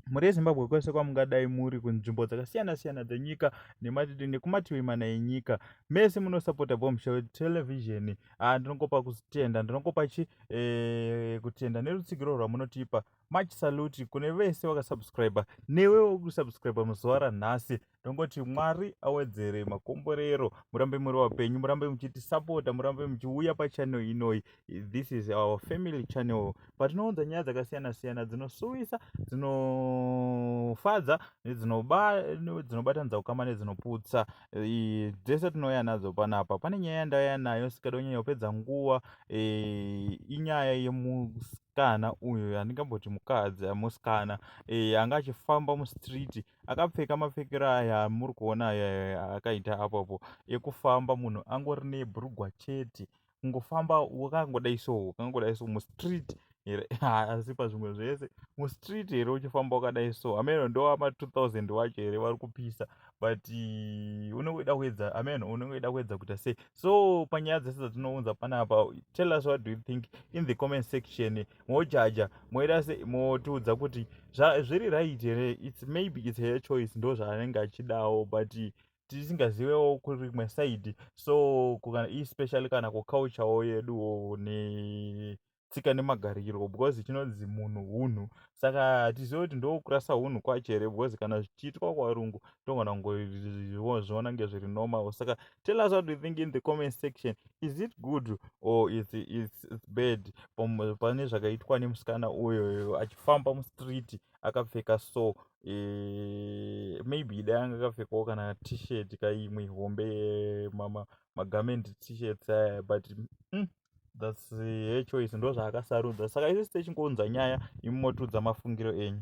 mhuri yezimbabwe kwese kwamungadai muri kunzvimbo dzakasiyana siyana dzenyika nekumativi mana enyika mese munosapota bombshell television ah, ndinongopa kutenda ndinongopa chi eh, kutenda nerutsigiro rwamunotipa much salute kune vese vakasubscriber newewo kusubscriber muzuva ranhasi ndongoti mwari awedzere makomborero murambe muri vapenyu murambe muchitisapota murambe muchiuya pachannel inoyi this is our family channel patinounza nyaya dzakasiyana siyana dzinosuwisa dzinofadza dzinobatanidza kukama nedzinoputsa dzese tinouya nadzo panapa pane nyaya yandauya nayo sikada kunyanya kupedza nguva e, inyaya yemusikana uyu yandingamboti mukadzi musikana e, anga achifamba mustreet akapfeka mapfekero aya amuri kuona aya akaita apo apo ekufamba munhu angori nebhurugwa chete kungofamba wakangodai so wakangodai so mustreet here asi pazvimwe zvese mustreet here uchifamba wakadai so ameno ndovama 2000 wacho here vari kupisa but eh, unongoida kuedza ameno unongoida kuedza kuita sei so panyaya dzese dzatinounza panapa tell us what do you think in the comment section mojaja moita se motiudza kuti zviri right here its maybe its her choice ndo zvaanenge achidawo but tisingazivewo kurimwe side so kana especially kana kuculturewo yeduwo ne tsika nemagariro because chinonzi munhu hunhu saka hatizive kuti ndokurasa hunhu kwacho here because kana zvichiitwa kwavarungu tongona kungozviona ngezviri normal saka tell us what you think in the comment section is it good or is it, is it bad pane zvakaitwa nemusikana uyoyo achifamba mustreet akapfeka so e, maybe dai anga akapfekawo kana t-shirt kaimwe hombe eh, mama magament t-shirts aya but mm, thats her choice ndo zvaakasarudza saka isi techingounza nyaya imotudza mafungiro enyu